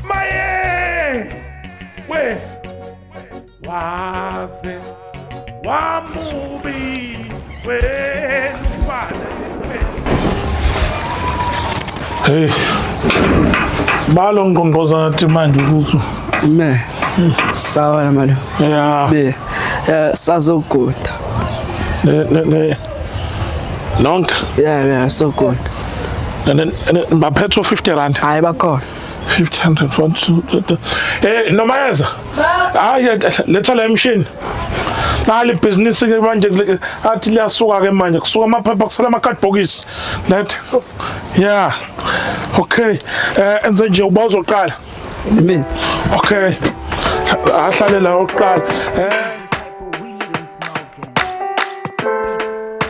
Maye! We! Waze! Wamubi! We! Mfana! Hey. Balo ngqongqoza nathi manje ukuthi Me. Sawa na malo. yeah. Be. Eh, sazoguda. Ne, ne, ne. nonke yeah yeah so good and then baphetho 50 rand hayi bakhona 500 eh noma yenza hayi letha la emshini nali business ke manje athi liyasuka ke manje kusuka amaphepha kusala ama card box let yeah okay eh enze nje uba uzoqala mina okay ahlale la oqala eh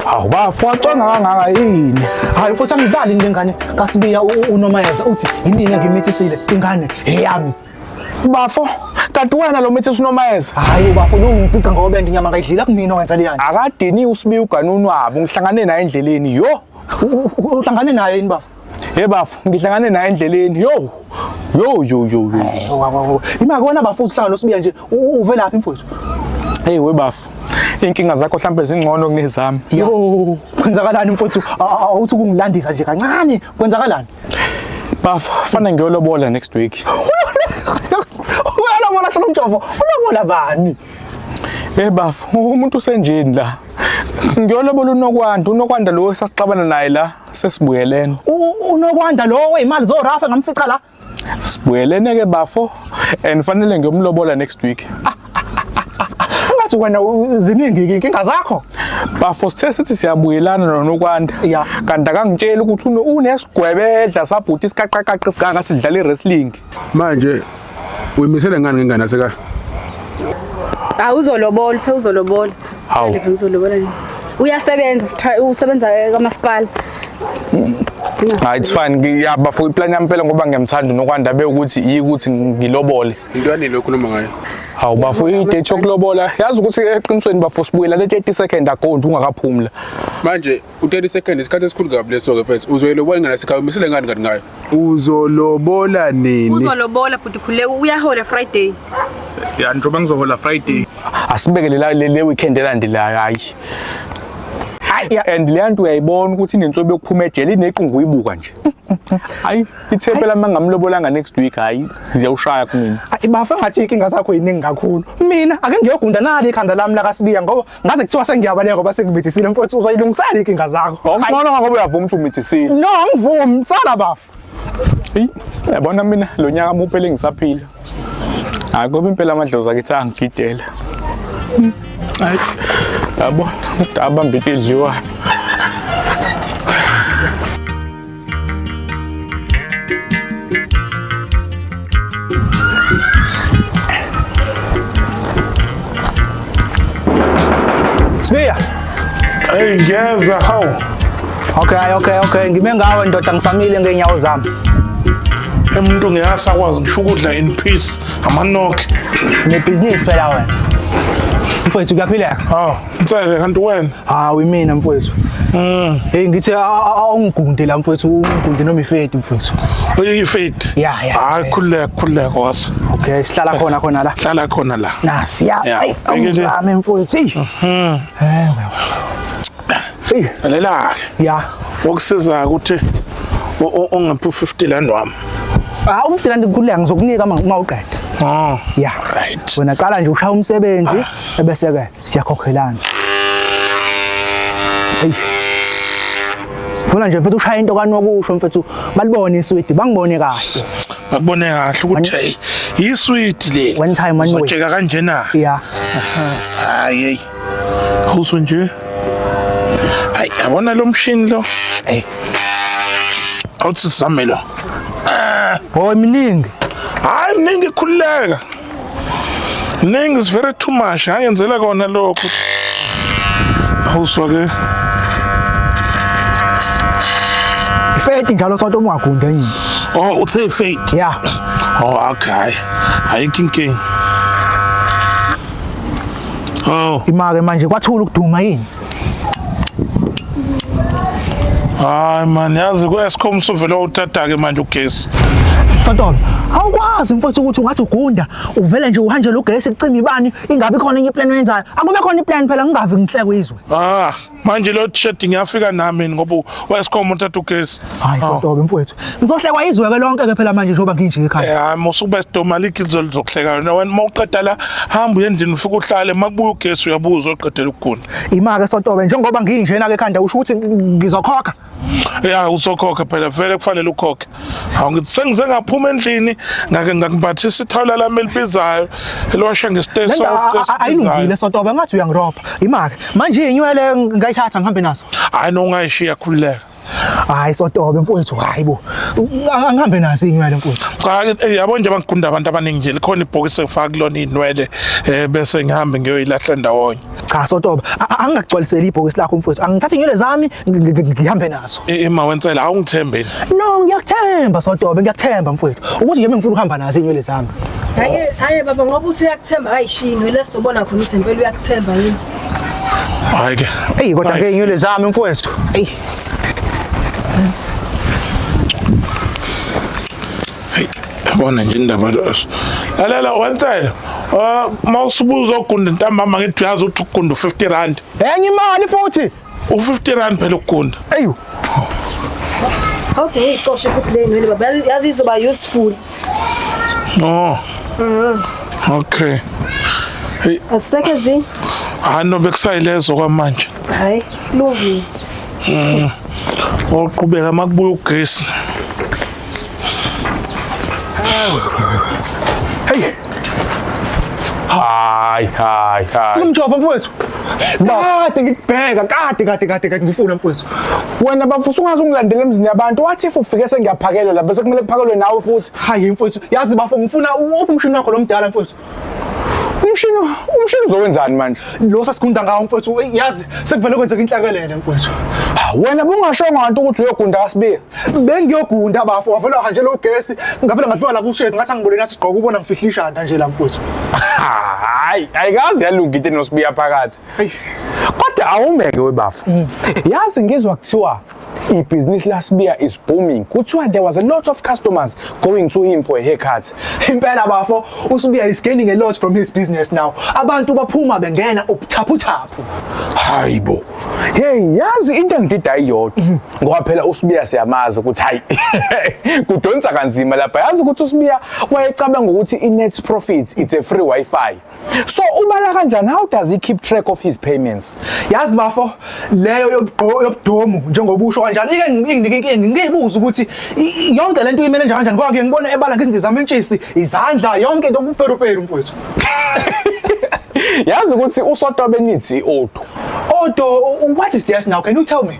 hawu bafo wacwanga kangaka yini hayi mfuthu angidlali nje ngane kasibiya unomayeza uthi yinini engimithisile ingane eyami bafo kanti wena lo mithi sinomayeza hayi bafo lo ngiphica ngobe nginyama ngayidlila kumina wenza leyani akadini usibiya uganunu wabo ngihlangane naye endleleni yo uhlangane naye yini bafo Hey bafo, ngihlangane naye endleleni. Yo. Yo yo yo yo. Ima kona bafo uhlanga losibiya nje. Uve laphi mfowethu? Hey we bafo. Inkinga zakho mhlambe zingcono kunezami. Yo. Kwenzakalani mfowethu? Awuthi kungilandisa nje kancane. Kwenzakalani? Bafo, fana ngiyolobola next week. Uyalobola solo mjovo. Ulobola bani? Hey bafo, umuntu usenjini la. Ngiyolobola unokwanda, unokwanda lo esasixabana naye la. Sesibuyeleni. Unokwanda lo weyimali zo Rafa ngamfica la. Sibuyelene ke bafo and fanele ngiyomlobola next week. Ah, ah, ah, Ngathi wena ziningi inkinga zakho. Bafo sithe sithi siyabuyelana noNokwanda. Kanti akangitsheli ukuthi unesigwebedla sabhuti isikaqaqaqi sikanga sidlala iwrestling. manje uyimisele ngani ngengane aseka awuzolobola uthe uzolobola Hawu. Ngeke ngizolobola nini uyasebenza try usebenza kamasipala Ah it's fine ngiyaba for iplan yami phela ngoba ngiyamthanda uNokwanda bewukuthi yikuthi ngilobole. into yanele okhuluma ngayo Hawu bafo idate yokulobola yazi ukuthi eqinisweni bafo sibuyela le 30 second ago nje ungakaphumula. manje u-30 second isikhathi esikhulu kabi leso-ke fes uzoyilobola ingane asekhaya umisele ngani kanti ngayo Uzolobola nini? Uzolobola bhuti khuleka uyahola Friday. Ya njoba ngizohola Friday. Asibeke le le weekend elandelayo hayi. Hayi and le nto uyayibona ukuthi inensobe yokuphuma ejele inequngu uyibuka nje. Hayi ithepe lami ngamlobolanga next week hayi ziyawushaya kumina. Ayi bafa ngathi inkinga zakho yiningi kakhulu. Mina ake ngiyogunda nali ikhanda lami la kaSibiya ngoba ngaze kuthiwa sengiyabaleka ngoba sengimithisiile mfowethu uzoyilungisela inkinga zakho ngcono ngoba uyavuma ukuthi umithisiile no angivumi sala bafu eyi yabona mina lo nyaka muphele ngisaphila hayi ngoba impela amadlozi akithi angigidela hayi yabona abambita idliwayo Sibiya. Hey ngeza how? Okay okay okay ngime ngawe ndoda ngisamile ngeenyawo zami. Emuntu ngeyasakwazi ngisho ukudla in peace amanokhe. Nebhizinisi phela wena. Mfowethu kuyaphileka. Oh. Mtsele kanti wena? Hawu imina mfowethu. Mm. Hey ngithi awungigunde la mfowethu ungigunde noma ifedi mfowethu. Uyifedi? Ya ya. Hayi khuleka khuleka wasa. Okay sihlala khona khona la. Hlala khona la. Nasi ya. Awuzame mfowethu. Mhm. Eh. Hey. Lela. Ya. Wokusiza ukuthi ungaphi u50 land wami. Ah u50 land ngikhuleka ngizokunika uma uqeda. Ah. Ya. Right. Wena qala nje ushaya umsebenzi ah. ebese ke. siyakhokhelana eyi funa nje mfethu ushaya into kanokusho mfethu balibone iswidi bangibone kahle bakubone kahle ukuthi hey iswidi leli one time one way uzojeka kanjena yeah hayi awuso nje ayi yabona lo mshini lo hey awuthi sizame lo oh miningi hayi miningi khululeka Ningi is very too much. Ayenzela kona lokho. Awuswa ke. Faith njalo sonto mwagunde yini? Oh, uthe faith. Yeah. Oh, okay. Ayikho inkinga. Oh. Imake manje kwathula ukuduma yini? hayi mani yazi ku-escom usuvele wawuthatha-ke manje ugesi Santolo, awukwazi mfowethu ukuthi ungathi ugunda uvele nje uhanjele ugesi kucima ibani ingabe khona enye iplan oyenzayo akube khona iplan phela ngingavi ngihlekwe izwe ah manje lo t-shirt ngiyafika nami ngoba u-escom uthatha ugesi hayi Santolo mfowethu Ngizohlekwa izwe ke lonke ke phela manje njengoba nginje ekhaya. Eh hayi musuba sidoma likhizo lizokuhleka yona wena mawuqeda la hamba uye endlini ufike uhlale makubuya ugesi uyabuza oqedela ukugula. Ima ke sontobe njengoba nginjena ke ekhanda usho ukuthi ngizokhokha. Ya uzokhokha phela vele kufanele ukhokhe. Hawu ngithi sengize ngaphuma endlini ngake ngakubhathisa ithawula lami elibizayo elosha ngesiteshi Lento a- a- a- ayilungile sontobe ngathi uyangiropa. Ima ke manje inywele ngayithatha ngihambe nazo. Hayi nongayishiya khululeka. hayi sotobe mfowethu hayi bo angihambe naso inywele mfowethu cha eh, yabo nje bangigunda abantu abaningi nje likhona ibhokisi efaka kulona inwele eh, bese ngihambe ngiyoyilahla ndawonye cha sotobe angingagcwaliseli ibhokisi lakho mfowethu angithathe inywele zami ngihambe nazo ima eh, wensela awungithembeni no ngiyakuthemba sotobe ngiyakuthemba mfowethu ukuthi nje ngifuna ukuhamba nazo inywele zami hayi hayi baba ngoba uthi uyakuthemba ayishiyi inywele sobona khona ukuthi impela uyakuthemba yini Hayi ke. Ey kodwa ke inywele zami mfowethu. Ey. Yabona nje indaba lezo. Lalela wansela. Ah, mawusubuza ogunda ntambama ngithi uyazi ukuthi ugunda 50 rand. Enye imali futhi. U50 rand phela ukugunda. Ayu. Awuthi ngiyicoshe futhi le nywele baba yazi izoba useful. No. Mhm. Okay. Hey. Aseke zi. Hayi no bekusayilezo kwamanje. Hayi, lungile. Mhm. Oqhubeka makubuya ugesi. Hey. Hayi hayi hayi. Funa umjovo mfowethu. Kade ngikubheka kade kade kade kade ngifuna mfowethu. Wena bafusa ungaze ungilandele emzini yabantu wathi if ufike sengiyaphakelwa la bese kumele kuphakelwe nawe futhi. Hayi mfowethu, yazi bafo ngifuna uphi umshini wakho lomdala mfowethu. umshini umshini uzokwenzani manje lo sasigunda ngawo mfowethu eyi, yazi sekuvele kwenzeka inhlakelele mfowethu Ah, wena bungashongo kanti ukuthi uyogunda kasibili bengiyogunda bafo wavele wahanjelwa ugesi ngavele ngadliwa la kushezi ngathi angibuleni athi gqoka ubona ngifihla ishanda nje la mfowethu hayi ayikazi yalunga into enosibiya phakathi Eyi. kodwa awumeke webafo yazi ngizwa kuthiwa ibhizinisi lasibiya is booming kuthiwa there was a lot of customers going to him for a haircut impela bafo usibiya is gaining a lot from his business now abantu baphuma bengena ubuthaphuthaphu hayibo hey yazi into engidida iyodwa mhm. ngoba phela usibiya siyamazi ukuthi hayi kudonsa kanzima lapha yazi ukuthi usibiya wayecabanga ukuthi i-net profit it's a free wifi so ubala kanjani how does he keep track of his payments yazi bafo leyo yobudomu njengoba usho kanjani ike nginike inkinga ngiyibuza ukuthi yonke lento uyimele njani kanjani ngoba ngibona ebala ngezinto zamentshisi izandla yonke into kuperuperu mfowethu yazi ukuthi usotobe nithi odu odo what is this now can you tell me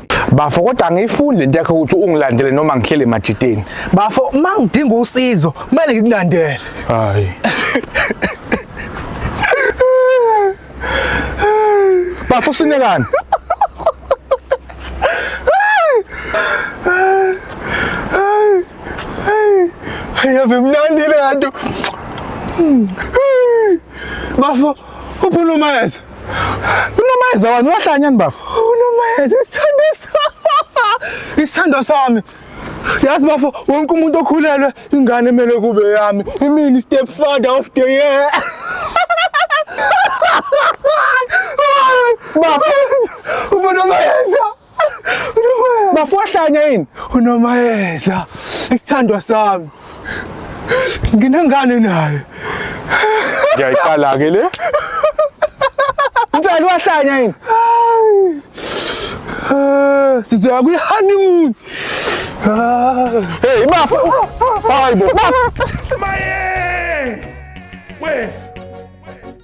bafo kodwa angiyifundi lento yakho ukuthi ungilandele noma ngihlele emajiteni bafo uma ngidinga usizo kumele ngikulandele hayi bafo sinekani yave mnandi le nto bafo uphulumeza Unomayeza wani uyahlanya ni bafo? Unomayeza isithando sami. Isithando sami. Yazi bafo wonke umuntu okhulelwe ingane emele kube yami. Imini step father of the year. Bafo. Unomayeza. Bafohlanya yini? Unomayeza isithandwa sami. Nginengane naye. Ngiyayiqala ke le. Mthali wahlanya yini? Eh, sizoya kwi honeymoon. Hey, bafo. Hayibo. Maye! We